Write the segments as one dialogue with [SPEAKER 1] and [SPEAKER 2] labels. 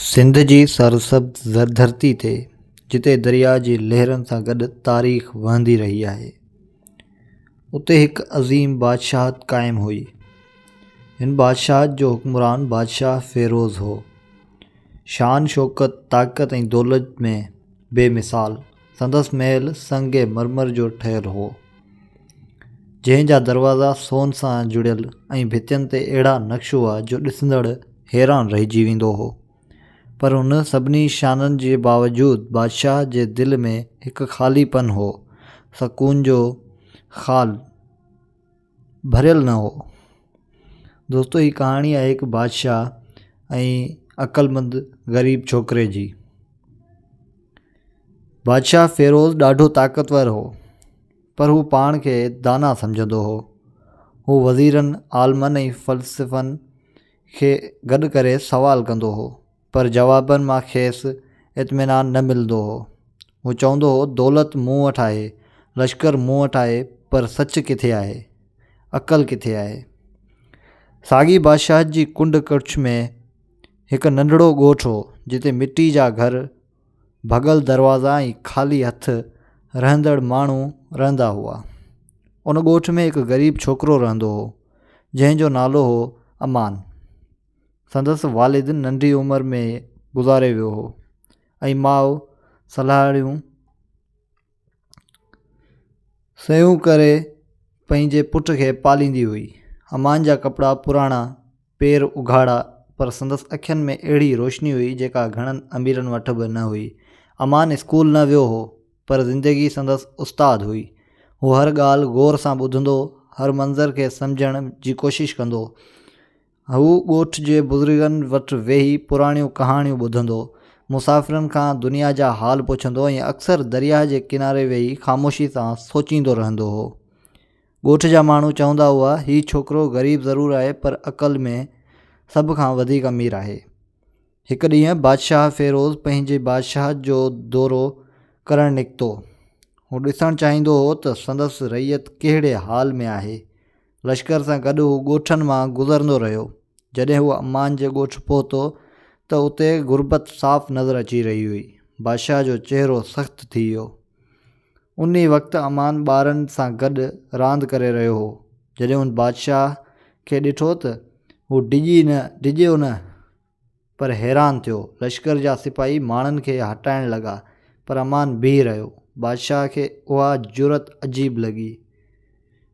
[SPEAKER 1] سنڌ جي سرسبز زردھرتي تي جتي درياء جي لهرن سان گڏ تاريخ وهندي رهي آهي، اتي هڪ عظيم بادشاهت قائم هئي. هن بادشاهت جو حڪمران بادشاهه فيروز هو. شان شوڪت، طاقت ۽ دولت ۾ بي مثال. سندس محل سنگ مرمر جو ٺهيل هو، جنهن جا دروازا سون سان جڙيل ۽ ڀتين تي اهڙا نقش هئا جو ڏسندڙ حيران رهجي ويندو هو. پر ان سڀني شانن جي باوجود بادشاهه جي دل ۾ هڪ خالي پن هو، سڪون جو خال. ڀريل نه هو دوستو هي ڪهاڻي آهي هڪ بادشاهه ۽ عقلمند غريب ڇوڪري جي بادشاهه فيروز ڏاڍو طاقتور هو پر هو پاڻ کي دانا سمجهندو هو هو وزيرن عالمن ۽ فلسفن کي گڏ ڪري سوال ڪندو هو پر جوابن مان کيس اطمينان نه ملندو هو. هو چوندو هو دولت مون وٽ آهي، لشڪر مون وٽ آهي پر سچ ڪٿي آهي؟ عقل ڪٿي آهي؟ ساڳي بادشاهت جي ڪنڊ ڪڙڇ ۾ هڪ ننڍڙو ڳوٺ هو جتي مٽي جا گهر، ڀڳل دروازا ۽ خالي هٿ رهندڙ ماڻهو رهندا هئا. ان ڳوٺ ۾ هڪ غريب ڇوڪرو رهندو هو، جنهن جو نالو هو امان. سندس والد ننڍي عمر ۾ گذاري ويو هو ۽ ماء صلاحيون سيون ڪري پنهنجي پٽ کي پاليندي هئي. امان جا ڪپڙا پراڻا، پير اگهاڙا پر سندس اکين ۾ اهڙي روشني هئي جيڪا گهڻن اميرن وٽ به نه هئي. امان اسڪول نه ويو هو پر زندگي سندس استاد هئي. هو هر ڳالهه غور سان ٻڌندو، هر منظر کي سمجهڻ جي ڪوشش ڪندو. هو ڳوٺ جي بزرگن وٽ ويهي پراڻيون ڪهاڻيون ٻڌندو، مسافرن کان دنيا جا حال پڇندو ۽ اڪثر درياهه جي ڪناري ويهي خاموشي سان سوچيندو رهندو هو. ڳوٺ جا ماڻهو چوندا هئا، هي ڇوڪرو غريب ضرور آهي پر عقل ۾ سڀ کان وڌيڪ امير آهي. هڪ ڏينهن بادشاهه فيروز پنهنجي بادشاهت جو دورو ڪرڻ نڪتو. هو ڏسڻ چاهيندو هو ته سندس رعيت ڪهڙي حال ۾ آهي. لشڪر سان گڏ هو ڳوٺن مان گذرندو رهيو. جڏهن هو امان جي ڳوٺ پهتو ته اتي غربت صاف نظر اچي رهي هئي. بادشاهه جو چهرو سخت ٿي ويو. انهي وقت امان ٻارن سان گڏ راند ڪري رهيو هو. جڏهن هن بادشاهه کي ڏٺو ته هو ڊڄي نه ڊڄيو نه. پر حيران ٿيو. لشڪر جا سپاهي ماڻهن کي هٽائڻ لڳا پر امان بيهي رهيو. بادشاهه کي اها جرئت عجيب لڳي.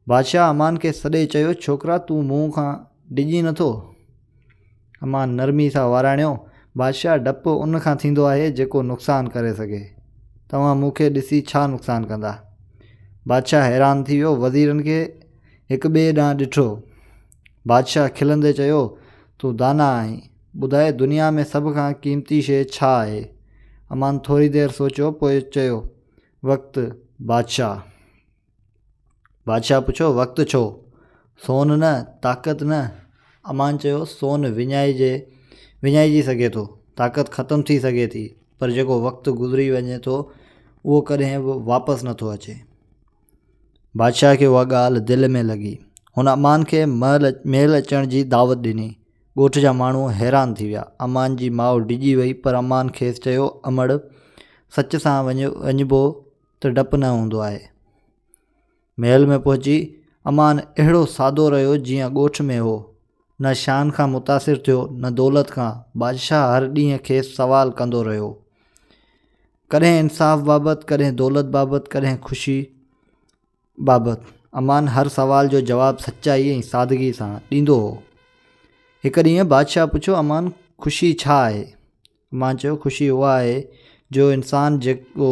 [SPEAKER 1] بادشاهه امان کي سڏي چيو، ڇوڪرا تون مون کان ڊڄين نٿو؟ امان نرمي سان واراڻيو، بادشاهه ڊپ ان کان ٿيندو آهي جيڪو نقصان ڪري سگهي. توهان مون کي ڏسي ڇا نقصان ڪندا؟ بادشاهه حيران ٿي ويو. وزيرن کي هڪ ٻئي ڏانهن ڏٺو. بادشاهه کلندي چيو، تون داناء آهين، ٻڌاء دنيا ۾ سڀ کان قيمتي شيء ڇا آهي؟ امان ٿوري دير سوچيو پوء چيو، وقت بادشاهه! بادشاهه پڇيو، وقت ڇو؟ سون نه، طاقت نه؟ امان چيو، سون وڃائجي وڃائجي سگهي ٿو، طاقت ختم ٿي سگهي ٿي، پر جيڪو وقت گذري وڃي ٿو، اهو ڪڏهن به واپس نٿو اچي. بادشاهه کي اها ڳالهه دل ۾ لڳي. هن امان کي مهل اچڻ جي دعوت ڏني. ڳوٺ جا ماڻهو حيران ٿي ويا. امان جي ماء ڊڄي وئي پر امان کيس چيو امڙ! سچ سان وڃبو ته ڊپ نه هوندو آهي. مهل ۾ پهچي امان اهڙو سادو رهيو جيئن ڳوٺ ۾ هو. نه شان کان متاثر ٿيو نه دولت کان. بادشاهه هر ڏينهن کيس سوال ڪندو رهيو. ڪڏهن انصاف بابت، ڪڏهن دولت بابت، ڪڏهن خوشي بابت. امان هر سوال جو جواب سچائي ۽ سادگي سان ڏيندو هو. هڪ ڏينهن بادشاهه پڇيو، امان خوشي ڇا آهي؟ امان چيو، خوشي اها آهي جو انسان جيڪو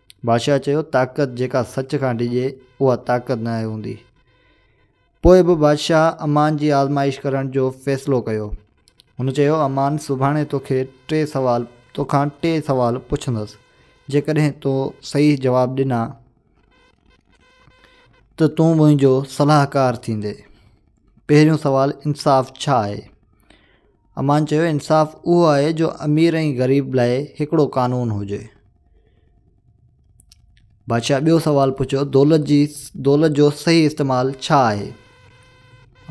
[SPEAKER 1] بادشاهه چيو، طاقت جيڪا سچ کان ڊڄي، اها طاقت ناهي هوندي. پوء به بادشاهه امان جي آزمائش ڪرڻ جو فيصلو ڪيو. هن چيو، امان سڀاڻي توکي ٽي سوال توکان ٽي سوال پڇندس. جيڪڏهن تو صحيح جواب ڏنا ته تون منهنجو صلاحڪار ٿيندين. پهريون سوال انصاف ڇا آهي؟ امان چيو انصاف اهو آهي جو امير ۽ غريب لاء هڪڙو قانون هجي. بادشاهه ٻيو سوال پڇيو دولت جي دولت جو صحيح استعمال ڇا آهي؟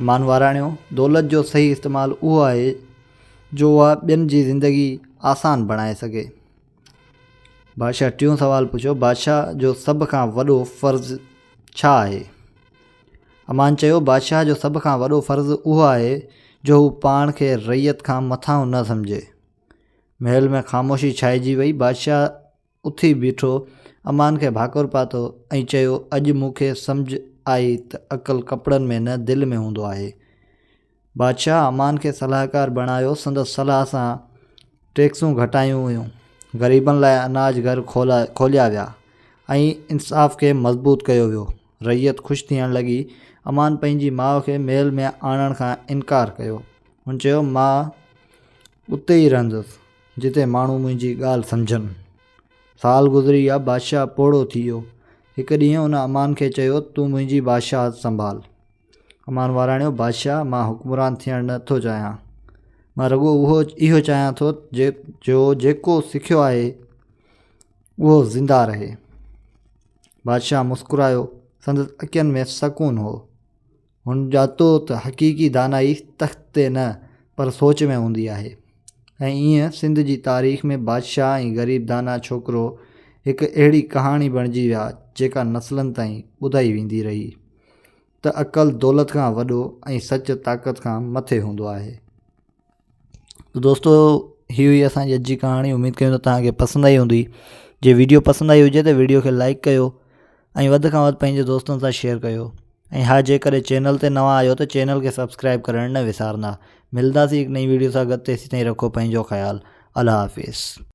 [SPEAKER 1] امان واراڻيو دولت جو صحيح استعمال اهو آهي جو اها ٻين جي زندگي آسان بڻائي سگهي. بادشاهه ٽيون سوال پڇيو، بادشاهه جو سڀ کان وڏو فرض ڇا آهي؟ امان چيو، بادشاهه جو سڀ کان وڏو فرض اهو آهي جو هو پاڻ کي رعيت کان مٿانهون نه سمجهي. محل ۾ خاموشي ڇائجي وئي. بادشاهه اٿي بيٺو، امان کي ڀاڪر پاتو ۽ چيو، اڄ مون کي سمجهه آئي ته عقل ڪپڙن ۾ نه دل ۾ هوندو آهي. بادشاهه امان کي صلاحڪار بڻايو، سندس صلاح سان ٽيڪسون گهٽايون ويون، غريبن لاء اناج گهر کوليا ويا ۽ انصاف کي مضبوط ڪيو ويو. رعيت خوش ٿيڻ لڳي. امان پنهنجي ماء کي محل ۾ آڻڻ کان انڪار ڪيو. هن چيو، مان اتي ئي رهندس، جتي ماڻهو منهنجي ڳالهه سمجهن. سال گذري ويا، بادشاهه پوڙهو ٿي ويو. هڪ ڏينهن هن امان کي چيو، تون منهنجي بادشاهت سنڀال. امان واراڻيو، بادشاهه! مان حڪمران ٿيڻ نه ٿو چاهيان. مان رڳو اهو چاهيان ٿو جو جيڪو سکيو آهي، اهو زنده رهي. بادشاهه مسڪرايو. سندس اکين ۾ سڪون هو. هن ڄاتو ته حقيقي دانائي تخت تي نه، پر سوچ ۾ هوندي آهي. ۽ ايئن سنڌ جي تاريخ ۾ بادشاهه ۽ غريب دانا ڇوڪرو هڪ اهڙي ڪهاڻي بڻجي ويا، جيڪا نسلن تائين ٻڌائي ويندي رهي. ته عقل دولت کان وڏو ۽ سچ طاقت کان مٿي هوندو آهي تو دوستو هي هئي اسان جي اڄ جي ڪهاڻي اميد ڪيون ته توهان کي پسند آئي هوندي جي ويڊيو پسند آئي هجي ته ويڊيو کي لائڪ ڪيو ۽ وڌ کان وڌ پنهنجي دوستن سان شيئر ڪيو ۽ ها جيڪڏهن چينل تي نوان آهيو ته چينل کي سبسڪرائب ڪرڻ نه وسارندا ملنداسي هڪ نئي ويڊيو سان گڏ تيسين تائين رکو پنهنجو خيال الله حافظ